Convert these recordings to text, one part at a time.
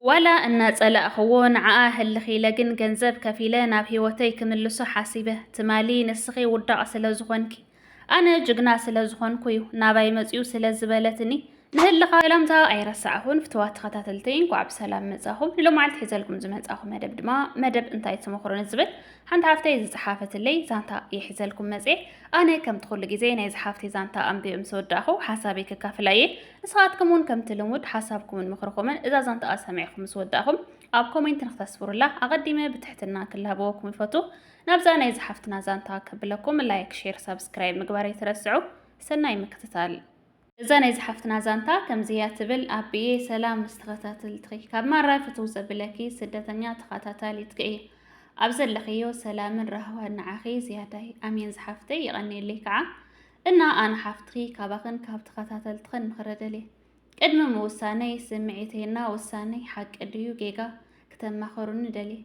ዋላ እናጸላእኽዎ ንዓኣ ህልኽ ኢለ ግን ገንዘብ ከፊለ ናብ ህይወተይ ክምልሶ ሓሲበ። ትማሊ ንስኺ ውዳቕ ስለ ዝኾንኪ ኣነ ጅግና ስለ ዝኾንኩ'ዩ ናባይ መጽዩ ስለ ዝበለትኒ ንህልኻ። ሰላምታ ኣይረሳዕኹን ፍቱዋት ተኸታተልተይ እንኳዕ ብሰላም መጻኹም። ንሎማዓልቲ ሒዘልኩም ዝመጻኹ መደብ ድማ መደብ እንታይ ትመኽሩ ንዝብል ሓንቲ ሓፍተይ ዝጸሓፈትለይ ዛንታ እየ ሒዘልኩም መጽየ። ኣነ ከምቲ ኩሉ ግዜ ናይዛ ሓፍተይ ዛንታ ኣንቢበ ምስ ወዳእኹ ሓሳበይ ከካፍላ እየ። ንስኻትኩም እውን ከምቲ ልሙድ ሓሳብኩምን ምኽርኹምን እዛ ዛንታኣ ሰሚዕኹም ምስ ወዳእኹም ኣብ ኮሜንት ንክተስፍሩላ ኣቐዲመ ብትሕትና ክላበወኩም ይፈቱ። ናብዛ ናይ ዝሓፍትና ዛንታ ከብለኩም ላይክ፣ ሼር፣ ሳብስክራይብ ምግባር ኣይትረስዑ። ሰናይ ምክትታል። እዛ ናይ ዝሓፍትና ዛንታ ከምዚ እያ ትብል። ኣቢየ ሰላም ምስ ተኸታተልትኺ ካብ ማራ ፍትው ዘብለኪ ስደተኛ ተኸታታሊትኪ እየ። ኣብ ዘለኽዮ ሰላምን ራህዋን ንዓኺ ዝያዳይ። ኣሜን ዝሓፍተይ የቐንየለይ ከዓ። እና ኣነ ሓፍትኺ ካባኽን ካብ ተኸታተልትኽን ምኽሪ ደልየ ቅድሚ ምውሳነይ ስምዒተይ እና ውሳነይ ሓቂ ድዩ ጌጋ ክተማኸሩኒ ደልየ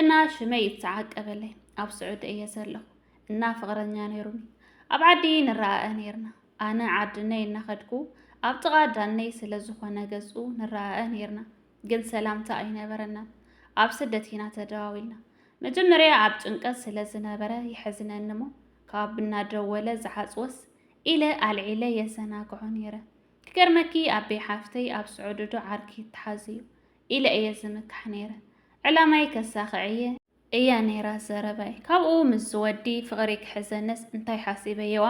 እና ሽመይ ይተዓቀበለይ ኣብ ስዑዲ እየ ዘለኹ እና ፍቕረኛ ነይሩኒ ኣብ ዓዲ ንረኣኣ ነይርና ኣነ ዓድነይ እናኸድኩ ኣብ ጥቓ ዳነይ ስለ ዝኾነ ገዝኡ ንረኣኣ ነይርና ግን ሰላምታ ኣይነበረናን። ኣብ ስደት ኢና ተደዋዊልና። መጀመርያ ኣብ ጭንቀት ስለ ዝነበረ ይሕዝነኒ እሞ ካብ እናደወለ ዝሓጽወስ ኢለ ኣልዒለ የዘናግዖ ነይረ። ክገርመኪ ኣቤ ሓፍተይ ኣብ ስዑድዶ ዓርኪ ይተሓዝዩ ኢለ እየ ዝምካሕ ነይረ። ዕላማይ ከሳኽዕ እየ። እያ ነይራ ዘረባይ ካብኡ ምስ ዝወዲ ፍቕሪ ክሕዘንስ እንታይ ሓሲበየዋ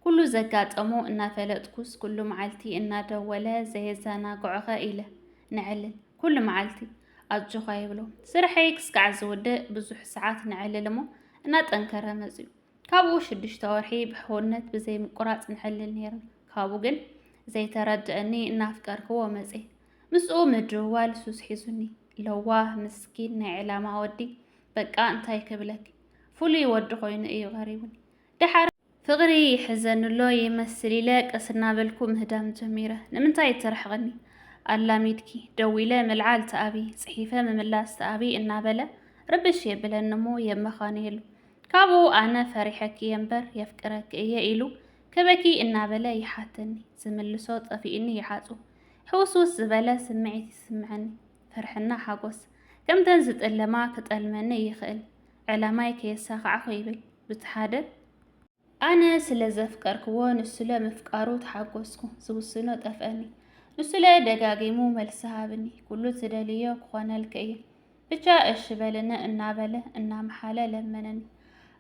ኩሉ ዘጋጠሞ እናፈለጥኩስ ኩሉ መዓልቲ እናደወለ ዘየዘናግዖኸ ኢለ ነዕልል ኩሉ መዓልቲ ኣጆኻ ይብሎ ስርሐይ ክስካዕ ዝውድእ ብዙሕ ሰዓት ነዕልል እሞ እናጠንከረ መፅዩ ካብኡ ሽዱሽተ ወርሒ ብሕውነት ብዘይምቁራፅ ነዕልል ነይርና ካብኡ ግን ዘይተረድአኒ እናፍቀርክዎ መፅየ ምስኡ ምድውዋል ሱስ ሒዙኒ። ለዋህ ምስኪን ናይ ዕላማ ወዲ በቃ እንታይ ክብለኪ ፍሉይ ወዲ ኮይኑ እዩ ቀሪቡኒ። ደሓር። ፍቕሪ ይሕዘንሎ ይመስል ኢለ ቀስ እናበልኩ ምህዳም ጀሚረ። ንምንታይ ትርሕቕኒ ኣላሚድኪ ደዊለ ምልዓል ተኣብዪ ጽሒፈ ምምላስ ተኣብዪ እናበለ ርብሽ የብለኒ እሞ የመኻንየሉ። ካብኡ ኣነ ፈሪሐኪ እየ እምበር የፍቅረኪ እየ ኢሉ ክበኪ እናበለ ይሓተኒ። ዝምልሶ ጠፊኡኒ ይሓጹ። ሕውስውስ ዝበለ ስምዒት ይስምዐኒ፣ ፍርሕና ሓጎስ። ከምተን ዝጥለማ ክጠልመኒ ይኽእል፣ ዕላማይ ከየሳኻዕኹ ይብል ቡቲ ሓደ። ኣነ ስለ ዘፍቀርክዎ ንሱለ ምፍቃሩ ተሓጎስኩ፣ ዝውስኖ ጠፍአኒ። ንሱለ ደጋጊሙ መልሲ ሃብኒ፣ ኩሉ ትደልዮ ክኾነልኪ እየ፣ ብቻ እሺ በልነ እናበለ እናመሓለ ለመነኒ።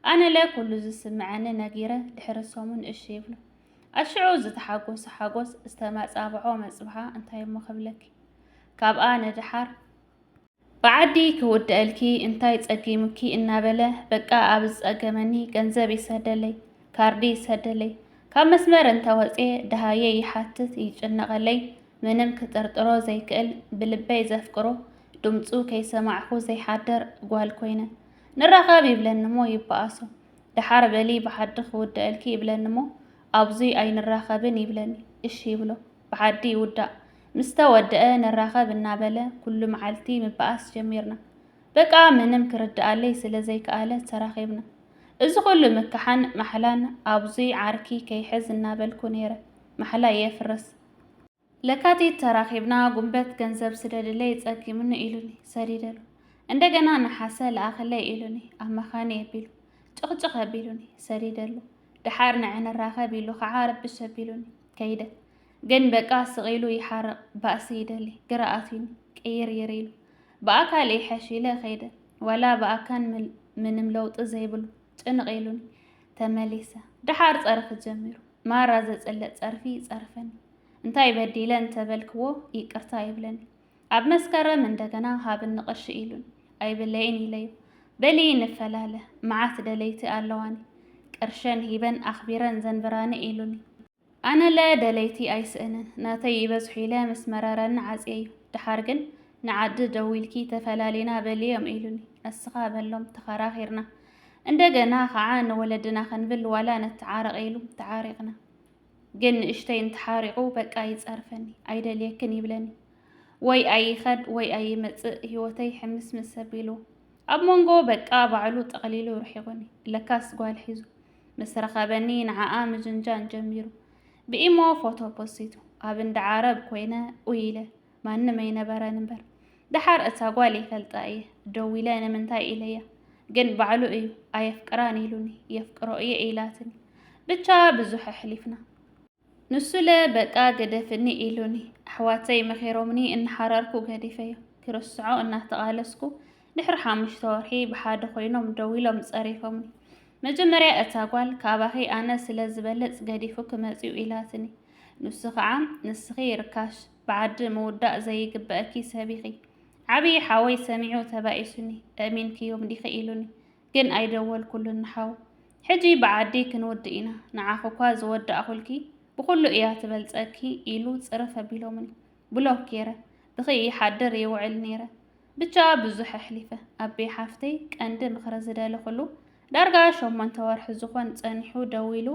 ኣነለ ኩሉ ዝስምዐኒ ነጊረ ድሕሪ ሰሙን እሺ ይብሎ። ኣሽዑ ዝተሓጎሰ ሓጎስ ዝተመጻብዖ መጽብሓ እንታይ እሞ ክብለኪ ካብኣ ንደሓር ብዓዲ ክውድኣልኪ እንታይ ጸጊሙኪ እናበለ በቃ ኣብ ዝጸገመኒ ገንዘብ ይሰደለይ ካርዲ ይሰደለይ ካብ መስመር እንተወጽየ ደሃየ ይሓትት ይጭነቐለይ ምንም ክጥርጥሮ ዘይክእል ብልበይ ዘፍቅሮ ድምፁ ከይሰማዕኹ ዘይሓደር ጓል ኮይነ ንራኸብ ይብለኒ እሞ ይበኣሶ ደሓር በሊ ብሓዲ ክውደኣልኪ ይብለኒ'ሞ ኣብዙይ ኣይንራኸብን ይብለኒ። እሺ ይብሎ። ብሓዲ ይውዳእ። ምስ ተወደኣ ንራኸብ እናበለ ኩሉ መዓልቲ ምብኣስ ጀሚርና። በቃ ምንም ክርድኣለይ ስለ ዘይከኣለ ተራኺብና። እዚ ኩሉ ምክሓን ማሕላን ኣብዙይ ዓርኪ ከይሕዝ እናበልኩ ነይረ ማሕላ የፍርስ። ለካቲት ተራኺብና ጉንበት ገንዘብ ስደድለይ ጸጊሙኒ ኢሉኒ ሰዲደሉ እንደገና ነሓሰ ለኣኸለይ ኢሉኒ ኣብ መኻኒ ኣቢሉ ጭቕጭቕ ኣቢሉኒ ሰዲደሉ ደሓር ንዐ ንራኸብ ኢሉ ኸዓ ረብሽ ኣቢሉኒ ከይደ ግን በቃ ስቂሉ ይሓርቕ ባእሲ ይደሊ ግራ ኣትዩኒ ቅይርይር ኢሉ ብኣካል ይሐሽ ኢለ ከይደ ዋላ ብኣካን ምንም ለውጢ ዘይብሉ ጭንቕ ኢሉኒ ተመሊሰ ደሓር ጸርፊ ጀሚሩ ማራ ዘጽልእ ጸርፊ ይጸርፈኒ እንታይ በዲለ እንተበልክዎ ይቅርታ ይብለኒ ኣብ መስከረም እንደገና ሃብኒ ቅርሺ ኢሉን ኣይብለይን ኢለዮ በሊ ንፈላለ መዓት ደለይቲ ኣለዋኒ ቅርሸን ሂበን ኣኽቢረን ዘንብራኒ ኢሉኒ ኣነለ ደለይቲ ኣይስእንን ናተይ ይበዝሑ ኢለ ምስ መረረኒ ዓጽየዮ ደሓር ግን ንዓዲ ደዊልኪ ተፈላሊና በልዮም ኢሉኒ እስኻ በሎም ተኸራኺርና እንደገና ኸዓ ንወለድና ክንብል ዋላ ንተዓረቕ ኢሉ ተዓሪቕና ግን ንእሽተይ እንተሓሪቑ በቃ ይጸርፈኒ ኣይደልየክን ይብለኒ ወይ ኣይኸድ ወይ ኣይመጽእ ህይወተይ ሕምስምስ ኣቢሉ ኣብ መንጎ በቃ ባዕሉ ጠቕሊሉ ርሒቑኒ ለካስ ጓል ሒዙ ምስ ረኸበኒ ንዓኣ ምጅንጃን ጀሚሩ። ብኢሞ ፎቶ ፖሲቱ። ኣብ እንዳ ዓረብ ኮይነ ኡይ ኢለ። ማንም ኣይነበረን እምበር። ደሓር እታ ጓል ይፈልጣ እየ። ደዊለ ንምንታይ ኢለያ። ግን ባዕሉ እዩ ኣየፍቅራን ኢሉኒ። የፍቅሮ እየ ኢላትኒ። ብቻ ብዙሕ ኣሕሊፍና። ንሱለ በቃ ግደፍኒ ኢሉኒ፣ ኣሕዋተይ መኺሮምኒ እናሓረርኩ ገዲፈዮ። ክርስዖ እናተቓለስኩ ድሕሪ ሓሙሽተ ወርሒ ብሓደ ኮይኖም ደዊሎም ፀሪፎምኒ። መጀመርያ እታ ጓል ካባኺ ኣነ ስለ ዝበልፅ ገዲፉኪ መፂኡ ኢላትኒ። ንሱ ከዓ ንስኺ ርካሽ፣ ብዓዲ ምውዳእ ዘይግበእኪ ሰብ ኢኺ። ዓብዪ ሓወይ ሰሚዑ ተባኢሱኒ፣ ኣእሚንክዮም ዲኺ ኢሉኒ። ግን ኣይደወልኩሉን ንሓው ሕጂ ብዓዲ ክንውድእ ኢና ንዓኺ'ኳ ዝወዳእኹልኪ ብኹሉ እያ ትበልጸኪ ኢሉ ጽርፍ ኣቢሎምኒ ብሎክ ጌረ ብኽይ ይሓድር ይውዕል ኔረ ብቻ ብዙሕ ኣሕሊፈ ኣቤ ሓፍተይ ቀንዲ ምኽሪ ዝደለኹሉ ዳርጋ ሸሞንተ ወርሒ ዝኾን ጸኒሑ ደዊሉ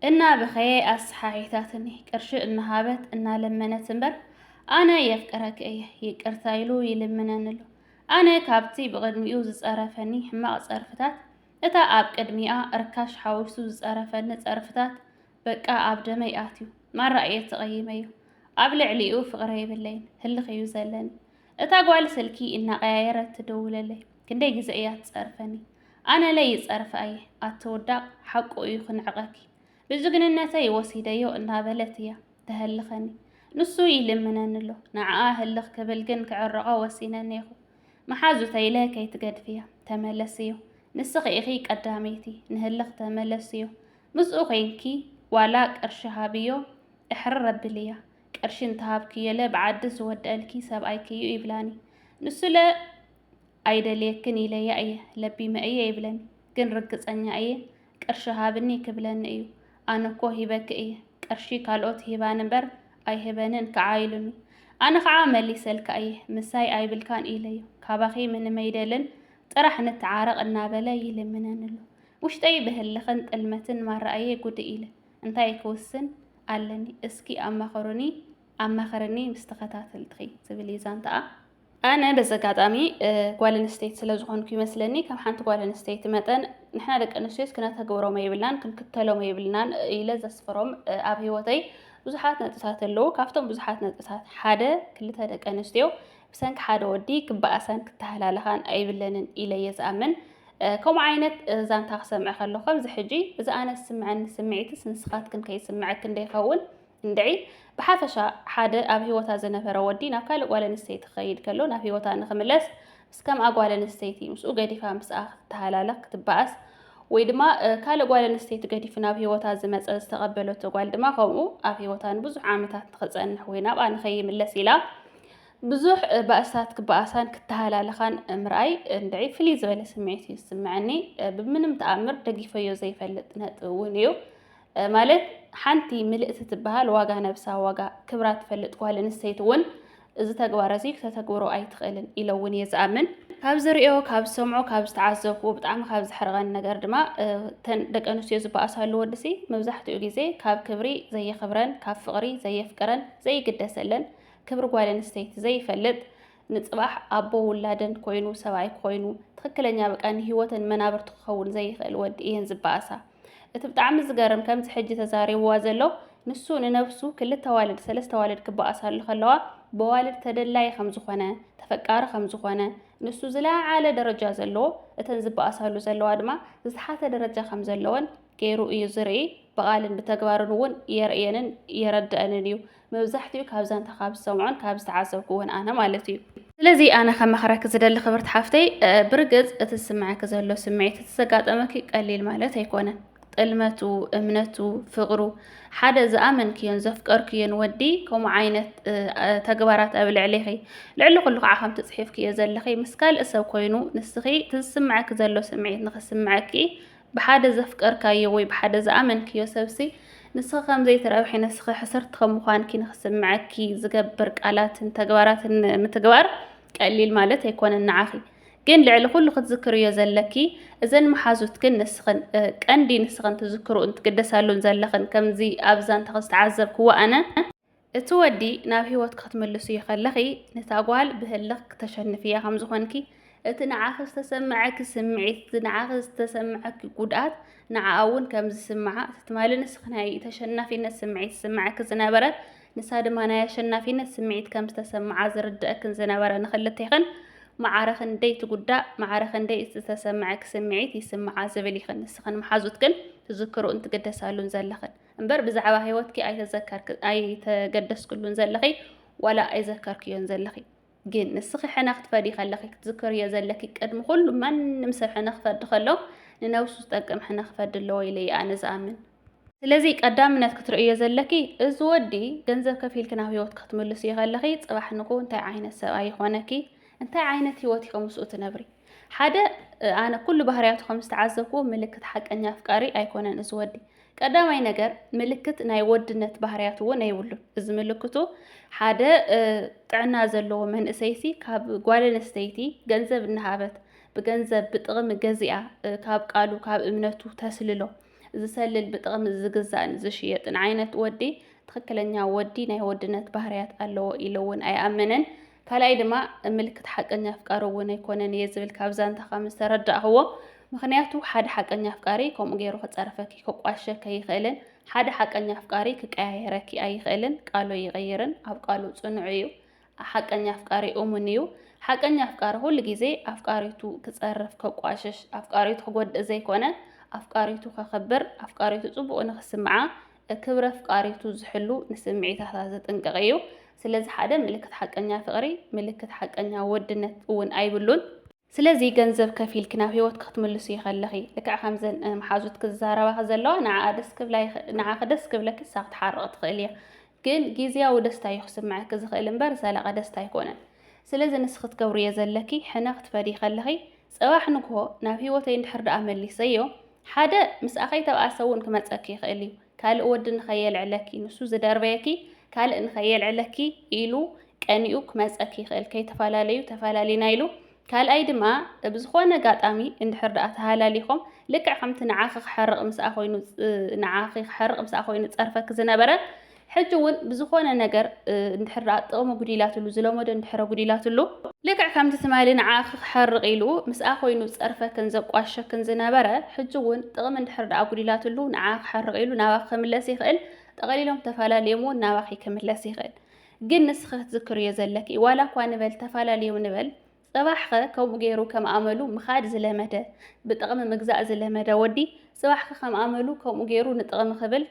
እናበኸየ ኣሰሓሒታትኒ ቅርሺ እናሃበት እናለመነት እምበር ኣነ የፍቅረኪ እየ ይቅርታ ኢሉ ይልምነኒ ኣሎ ኣነ ካብቲ ብቅድሚኡ ዝጸረፈኒ ሕማቅ ጸርፍታት እታ ኣብ ቅድሚኣ ርካሽ ሓዊሱ ዝጸረፈኒ ጸርፍታት በቃ ኣብ ደመይ ኣትዩ ማራ እየ ተቀይመዮ ኣብ ልዕሊኡ ፍቅሪ የብለይን ህልኽ እዩ ዘለኒ እታ ጓል ስልኪ እናቀያየረት ትድውለለይ ክንደይ ግዘ እያ ትጸርፈኒ ኣነለ ይጸርፍ ኣየ ኣቲ ውዳቅ ሓቁ እዩ ክንዕቀኪ ብጅግንነተይ ወሲደዮ እናበለት እያ ተሀልኸኒ ንሱ ይልምነኒ ኣሎ ንዓኣ ህልኽ ክብል ግን ክዕርቆ ወሲነ እኔኹ መሓዙተይለ ከይትገድፍያ ተመለስዮ ንስኺ ኢኺ ቀዳመይቲ ንህልኽ ተመለስዮ ምስኡ ኮይንኪ ዋላ ቅርሺ ሃብዮ እሕርር ኣብልያ ቅርሺ እንተሃብክዮለ ብዓዲ ዝወደኣልኪ ሰብኣይኪ እዩ ይብላኒ ንሱለ ኣይደልየክን ኢለያ እየ ለቢመ እየ ይብለኒ ግን ርግጸኛ እየ ቅርሺ ሃብኒ ክብለኒ እዩ ኣነ እኮ ሂበኪ እየ ቅርሺ ካልኦት ይህባኒ እምበር ኣይህበንን ክዓ ኢሉኒ ኣነ ክዓ መሊሰልካ እየ ምሳይ ኣይብልካን ኢለዮ ካባኺ ምንም ኣይደልን ጥራሕ ንተዓረቅ እናበለ ይልምነኒ ኣሎ ውሽጠይ ብህልኽን ጥልመትን ማራ እየ ጉድእ ኢለ እንታይ ክውስን ኣለኒ እስኪ ኣማኽሩኒ ኣማኽርኒ ምስ ተኸታተልትኺ ዝብል እዩ ዛንታኣ ኣነ በዚ ኣጋጣሚ ጓል ኣንስተይቲ ስለ ዝኾንኩ ይመስለኒ ከም ሓንቲ ጓል ኣንስተይቲ መጠን ንሕና ደቂ ኣንስትዮስ ክነተግብሮም የብልናን ክንክተሎም የብልናን ኢለ ዘስፍሮም ኣብ ህይወተይ ብዙሓት ነጥብታት ኣለዉ። ካብቶም ብዙሓት ነጥብታት ሓደ ክልተ ደቂ ኣንስትዮ ብሰንኪ ሓደ ወዲ ክበኣሳን ክተሃላለኻን ኣይብለንን ኢለ እየ ዝኣምን። ከምኡ ዓይነት ዛንታ ክሰምዐ ከለኹ ከምዚ ሕጂ እዚ ኣነ ዝስምዐኒ ስምዒትስ ንስኻትክን ከይስምዐክን ዶ ይኸውን? እንድዒ ብሓፈሻ ሓደ ኣብ ህይወታ ዝነበረ ወዲ ናብ ካልእ ጓል ኣንስተይቲ ክኸይድ ከሎ ናብ ህይወታ ንኽምለስ ምስ ከምኣ ጓል ኣንስተይቲ ምስኡ ገዲፋ ምስኣ ክትተሃላለኽ ክትበኣስ ወይ ድማ ካልእ ጓል ኣንስተይቲ ገዲፉ ናብ ህይወታ ዝመፀ ዝተቐበለቶ ጓል ድማ ከምኡ ኣብ ህይወታ ንብዙሕ ዓመታት ንኽፀንሕ ወይ ናብኣ ንኸይምለስ ኢላ ብዙሕ ባእስታት ክበኣሳን ክተሃላለኻን ምርኣይ እንድዒ ፍልይ ዝበለ ስምዒት እዩ ዝስምዐኒ። ብምንም ተኣምር ደጊፈዮ ዘይፈልጥ ነጥቢ እውን እዩ። ማለት ሓንቲ ምልእቲ ትበሃል ዋጋ ነብሳ ዋጋ ክብራ ትፈልጥ ጓል ኣንስተይቲ እውን እዚ ተግባር እዚ ክተተግብሮ ኣይትኽእልን ኢለ እውን እየ ዝኣምን። ካብ ዝርእዮ ካብ ዝሰምዖ ካብ ዝተዓዘብኩ ብጣዕሚ ካብ ዝሕርቐን ነገር ድማ እተን ደቂ ኣንስትዮ ዝበኣሳሉ ወድሲ መብዛሕትኡ ግዜ ካብ ክብሪ ዘየኽብረን ካብ ፍቕሪ ዘየፍቅረን ዘይግደሰለን ክብሪ ጓል ኣንስተይቲ ዘይፈልጥ ንፅባሕ ኣቦ ውላደን ኮይኑ ሰብኣይ ኮይኑ ትኽክለኛ በቃ ንህይወተን መናብርቲ ክኸውን ዘይኽእል ወዲ እየን ዝበኣሳ እቲ ብጣዕሚ ዝገርም ከምዚ ሕጂ ተዛሪብዋ ዘሎ ንሱ ንነብሱ ክልተ ዋልድ ሰለስተ ዋልድ ክበኣሳሉ ከለዋ በዋልድ ተደላይ ከም ዝኾነ ተፈቃሪ ከም ዝኾነ ንሱ ዝለዓለ ደረጃ ዘለዎ እተን ዝበኣሳሉ ዘለዋ ድማ ዝተሓተ ደረጃ ከም ዘለወን ገይሩ እዩ ዝርኢ ብቓልን ብተግባርን እውን የርእየንን የረድአንን እዩ መብዛሕቲኡ ካብ ዛንታ ካብ ዝሰምዖን ካብ ዝተዓዘብኩዎን ኣነ ማለት እዩ። ስለዚ ኣነ ከመኽረኪ ዝደሊ ክብርቲ ሓፍተይ፣ ብርግጽ እቲ ዝስምዐኪ ዘሎ ስምዒት እቲ ዘጋጠመኪ ቀሊል ማለት ኣይኮነን። ጥልመቱ፣ እምነቱ፣ ፍቕሩ ሓደ ዝኣመንክዮን ዘፍቀርክዮን ወዲ ከምኡ ዓይነት ተግባራት ኣብ ልዕሌኺ ልዕሊ ኩሉ ከዓ ከምቲ ፅሒፍክዮ ዘለኺ ምስ ካልእ ሰብ ኮይኑ ንስኺ እቲ ዝስምዐኪ ዘሎ ስምዒት ንኽስምዐኪ ብሓደ ዘፍቀርካዮ ወይ ብሓደ ዝኣመንክዮ ሰብሲ ንስኺ ከም ዘይትረብሒ ንስኺ ሕስርቲ ከም ምዃንኪ ንኽስምዐኪ ዝገብር ቃላትን ተግባራትን ምትግባር ቀሊል ማለት ኣይኮነን ንዓኺ ግን ልዕሊ ኩሉ ክትዝክርዮ ዘለኪ እዘን መሓዙትክን ንስኽን ቀንዲ ንስኽን ትዝክርኡን ትግደሳሉን ዘለኽን ከምዚ ኣብዛ እንተ ዝተዓዘብክዎ ኣነ እቲ ወዲ ናብ ህይወትኪ ክትምልስዮ ከለኺ፣ ነታ ጓል ብህልኽ ክተሸንፍያ ከም ዝኾንኪ፣ እቲ ንዓኺ ዝተሰምዐኪ ስምዒት፣ እቲ ንዓኺ ዝተሰምዐኪ ጉድኣት ንዓኣ እውን ከም ዝስምዓ፣ እቲ ትማሊ ንስኺ ናይ ተሸናፊነት ስምዒት ዝስምዐኪ ዝነበረ፣ ንሳ ድማ ናይ ኣሸናፊነት ስምዒት ከም ዝተሰምዓ ዝርድኣክን ዝነበረ ንኽልቴኽን ማዕረ ክንደይ ትጉዳእ፣ ማዕረ ክንደይ እቲ ዝተሰምዐኪ ስምዒት ይስምዓ ዝብል ኢኽን ንስኽን መሓዙትክን ትዝክርኡን ትግደሳሉን ዘለኽን። እምበር ብዛዕባ ሂወትኪ ኣይተዘከርክ ኣይተገደስክሉን ዘለኺ ዋላ ኣይዘከርክዮን ዘለኺ ግን ንስኺ ሕነ ክትፈዲ ከለኺ ክትዝክርዮ ዘለኪ ቅድሚ ኩሉ ማንም ሰብ ሕነ ክፈዲ ከሎ ንነብሱ ዝጠቅም ሕነ ክፈዲ ኣለዎ ኢለ እየ ኣነ ዝኣምን ስለዚ ቀዳምነት ክትርእዮ ዘለኪ እዚ ወዲ ገንዘብ ከፊልኪ ናብ ሂወት ክትምልስዮ ከለኺ ጽባሕ ንግሆ እንታይ ዓይነት ሰብኣይ ይኾነኪ እንታይ ዓይነት ሂወት ኢኺ ምስኡ ትነብሪ ሓደ ኣነ ኩሉ ባህርያቱ ከም ዝተዓዘብኩዎ ምልክት ሓቀኛ ኣፍቃሪ ኣይኮነን እዚ ወዲ ቀዳማይ ነገር ምልክት ናይ ወድነት ባህርያት እውን ኣይብሉን። እዚ ምልክቱ ሓደ ጥዕና ዘለዎ መንእሰይሲ ካብ ጓል ኣንስተይቲ ገንዘብ እናሃበት ብገንዘብ ብጥቕሚ ገዚኣ ካብ ቃሉ ካብ እምነቱ ተስልሎ ዝሰልል ብጥቕሚ ዝግዛእን ዝሽየጥን ዓይነት ወዲ ትኽክለኛ ወዲ ናይ ወድነት ባህርያት ኣለዎ ኢሉ እውን ኣይኣመነን። ካልኣይ ድማ ምልክት ሓቀኛ ኣፍቃሪ እውን ኣይኮነን እየ ዝብል ካብ ዛንታ ከም ዝተረዳእኽዎ ምክንያቱ ሓደ ሓቀኛ ኣፍቃሪ ከምኡ ገይሩ ክፀርፈኪ ክቋሸከ ኣይኽእልን ሓደ ሓቀኛ ኣፍቃሪ ክቀያየረኪ ኣይኽእልን ቃሉ ኣይቕይርን ኣብ ቃሉ ፅኑዕ እዩ ሓቀኛ ኣፍቃሪ እሙን እዩ ሓቀኛ ኣፍቃሪ ኩሉ ግዜ ኣፍቃሪቱ ክፀርፍ ከቋሽሽ ኣፍቃሪቱ ክጎድእ ዘይኮነ ኣፍቃሪቱ ከኽብር ኣፍቃሪቱ ፅቡቅ ንክስምዓ ክብሪ ኣፍቃሪቱ ዝሕሉ፣ ንስምዒታታ ዝጥንቀቕ እዩ። ስለዚ ሓደ ምልክት ሓቀኛ ፍቕሪ፣ ምልክት ሓቀኛ ወድነት እውን ኣይብሉን። ስለዚ ገንዘብ ከፊልኪ ናብ ህይወትኪ ክትምልስዮ ከለኺ፣ ልክዕ ከምዘን መሓዙት ክዛረባኺ ዘለዋ ንዓኣ ደስ ክብላ ንዓኺ ደስ ክብለኪ ንሳ ክትሓርቕ ትኽእል እያ። ግን ግዝያዊ ደስታ እዩ ክስምዐኪ ዝኽእል እምበር ዘላቒ ደስታ ኣይኮነን። ስለዚ ንስኺ ትገብርዮ ዘለኪ ሕነ ክትፈድዪ ከለኺ፣ ጽባሕ ንግሆ ናብ ህይወተይ እንድሕር ደኣ መሊሰዮ፣ ሓደ ምሳኺ እተብኣሰ እውን ክመጸኪ ይኽእል እዩ። ካልእ ወዲ ንኸየልዕለኪ፣ ንሱ ዝደርበየኪ ካልእ ንኸየልዕለኪ ኢሉ ቀኒኡ ክመጸኪ ይኽእል። ከይተፈላለዩ ተፈላሊና ኢሉ። ካልኣይ ድማ ብዝኾነ ኣጋጣሚ እንድሕር ደኣ ተሃላሊኾም ልክዕ ከምቲ ንዓኺ ክሐርቕ ምስኣ ኮይኑ ንዓኺ ክሐርቕ ምስኣ ኮይኑ ዝጸርፈኪ ዝነበረ ሕጂ ውን ብዝኾነ ነገር እንድሕር ደኣ ጥቕሚ ጉዲላትሉ፣ ዝለመዶ እንድሕር ጉዲላትሉ፣ ልክዕ ከምቲ ትማሊ ንዓኺ ክሓርቕ ኢሉ ምስኣ ኮይኑ ዝጸርፈክን ዘቋሽሸክን ዝነበረ፣ ሕጂ ውን ጥቕሚ እንድሕር ደኣ ጉዲላትሉ ንዓኺ ክሓርቕ ኢሉ ናባኺ ክምለስ ይኽእል፣ ጠቕሊሎም ተፋላልዮም ውን ናባኺ ክምለስ ይኽእል። ግን ንስኺ ክትዝክርዮ ዘለኪ ዋላ እኳ ንበል ተፋላልዮም ንበል፣ ጽባሕኸ ከምኡ ገይሩ ከም ኣመሉ ምኻድ ዝለመደ፣ ብጥቕሚ ምግዛእ ዝለመደ ወዲ፣ ጽባሕኸ ከም ኣመሉ ከምኡ ገይሩ ንጥቕሚ ክብል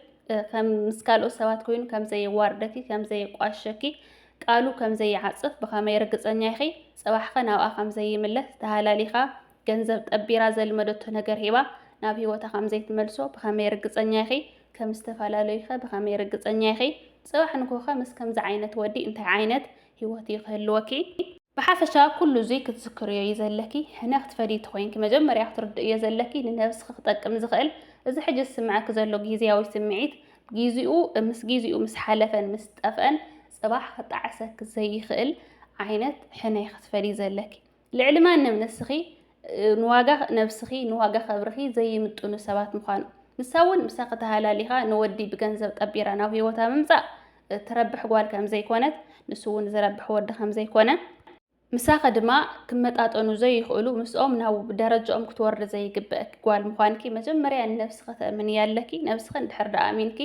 ከም ምስ ካልኦት ሰባት ኮይኑ ከም ዘየዋርደኪ፣ ከም ዘየቋሽሸኪ፣ ቃሉ ከም ዘይዓጽፍ ብኸመይ ርግጸኛ ኢኺ? ጽባሕኸ ናብኣ ከም ዘይምለስ ተሃላሊኻ፣ ገንዘብ ጠቢራ ዘልመደቶ ነገር ሂባ ናብ ህይወታ ከም ዘይትመልሶ ብኸመይ ርግጸኛ ኢኺ? ከም ዝተፋላለዩኸ ብኸመይ ርግጸኛ ኢኺ? ጽባሕ ንግሆኸ ምስ ከምዚ ዓይነት ወዲ እንታይ ዓይነት ሂወት እዩ ክህልወኪ። ብሓፈሻ ኩሉ እዙይ ክትዝክርዮ እዩ ዘለኪ። ሕነ ክትፈድዪ ተኾይንኪ መጀመርያ ክትርድእዮ ዘለኪ ንነብስኺ ክጠቅም ዝኽእል እዚ ሕጂ ዝስምዐኪ ዘሎ ጊዝያዊ ስምዒት ጊዚኡ ምስ ጊዚኡ ምስ ሓለፈን ምስ ጠፍአን ፅባሕ ክጣዕሰኪ ዘይኽእል ዓይነት ሕነ እዩ ክትፈድዪ ዘለኪ። ልዕሊ ማንም ንስኺ ንዋጋ ነብስኺ ንዋጋ ክብርኺ ዘይምጥኑ ሰባት ምዃኑ ንሳ እውን ምሳኺ ተሃላሊኻ ንወዲ ብገንዘብ ጠቢራ ናብ ህይወታ ምምጻእ እትረብሕ ጓል ከም ዘይኮነት ንሱ እውን ዝረብሕ ወዲ ከም ዘይኮነ ምሳኺ ድማ ክመጣጠኑ ዘይኽእሉ ምስኦም ናብ ደረጃኦም ክትወርዲ ዘይግበእኪ ጓል ምዃንኪ መጀመርያ ንነብስኺ ተእምንያ ኣለኪ ነብስኺ እንድሕር ደኣ ኣሚንኪ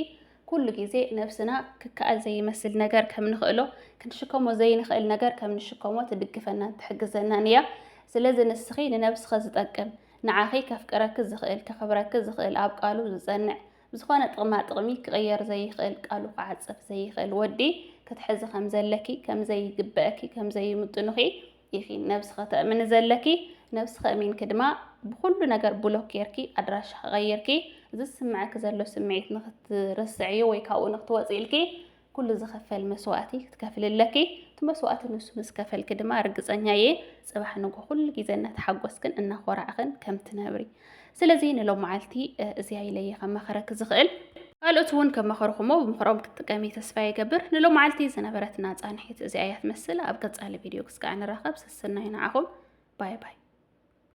ኩሉ ግዜ ነብስና ክከኣል ዘይመስል ነገር ከም ንኽእሎ፣ ክንሽከሞ ዘይንኽእል ነገር ከም ንሽከሞ ትድግፈናን ትሕግዘናን እያ። ስለዚ ንስኺ ንነብስኺ ዝጠቅም፣ ንዓኺ ከፍቅረኪ ዝኽእል፣ ከኽብረኪ ዝኽእል፣ ኣብ ቃሉ ዝጸንዕ፣ ብዝኾነ ጥቕማጥቕሚ ክቕየር ዘይኽእል፣ ቃሉ ክዓጽፍ ዘይኽእል ወዲ ክትሕዚ ከም ዘለኪ፣ ከም ዘይግበእኪ፣ ከም ዘይምጥኑኺ፣ ኢኪ ነብስኪ ተእምኒ ዘለኪ ነብስኪ እሚንኪ ድማ ብኩሉ ነገር ብሎክ ጌርኪ ኣድራሻኪ ቀይርኪ ዝስመዐኪ ዘሎ ስምዒት ንክትርስዕዮ ወይ ካብኡ ንክትወፂ ኢልኪ ኩሉ ዝክፈል መስዋእቲ ክትከፍሊ ኣለኪ እቲ መስዋእቲ ንሱ ምስ ከፈልኪ ድማ ርግፀኛ እየ ፅባሕ ንጎ ኩሉ ግዜ እናተሓጎስክን እናኮራዕክን ከምትነብሪ ስለዚ ንሎመዓልቲ እዚኣ ኢለየ ከመኸረኪ ዝኽእል ካልኦት እውን ከመኸርኹሞ ብምኽሮም ክትጥቀሚ ተስፋ ይገብር ንሎመዓልቲ ዝነበረትና ፃንሒት እዚኣ እያ ትመስል ኣብ ቀፃሊ ቪድዮ ክስከዕ ንራኸብ ስስናይ ንዓኹም ባይ ባይ